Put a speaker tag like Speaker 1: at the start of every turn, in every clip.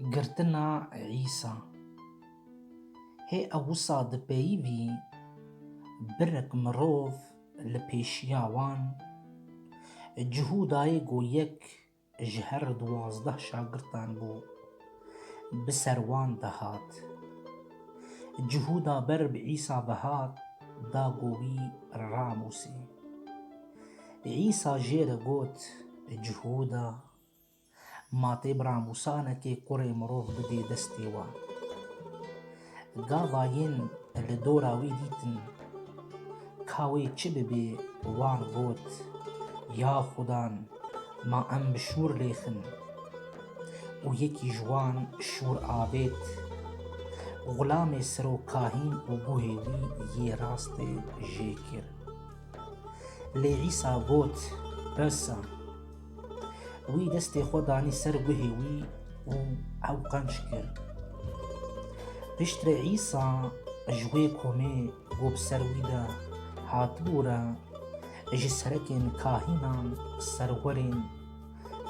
Speaker 1: Girtina Îsa Hê ewisa di peyivî birek mirov li pêşiya wan cihû dayê ku yek ji her duwazdeh şagirtan bû bi ser wan de hat. Cihû da ber bi Îsa ve hat da ku wî ramûsê. Îsa jê re got, Cihûda, ma tê bira Mûsa nekê kurê mirov bidê destê wan. Gava yên li dora wî dîtin ka wê çi bibê wan got, Ya Xudan, ma em bi şûr lêxin. Û yekî ji wan şûr avêt. Xulamê serokahîn û guhê wî yê rastê jê kir. Lê Îsa got, Presa! Wî destê xwe danî ser guhê wî û ew qenc kir. Piştre Îsa ji wê komê ku bi ser wî de hatibû re ji serekên kahînan, serwerên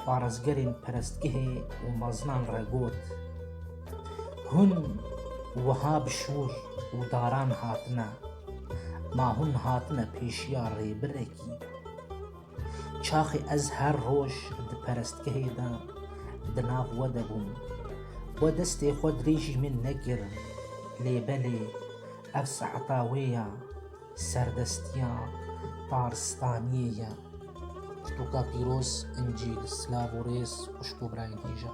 Speaker 1: Parêzgerên perestgehê û meznan re got, Hûn wiha bi şûr û daran hatine, ma hûn hatine pêşiya rêbirekî. Çaxê ez her roj di perestgehê de di nav we de bûm. We destê xwe dirêjî min nekir, lê belê ev saeta wê ya. Serdestiya Taristaniyê ye. Pirtûka pîroz, Încîl, silav û rêz xwişk û birayên hêja.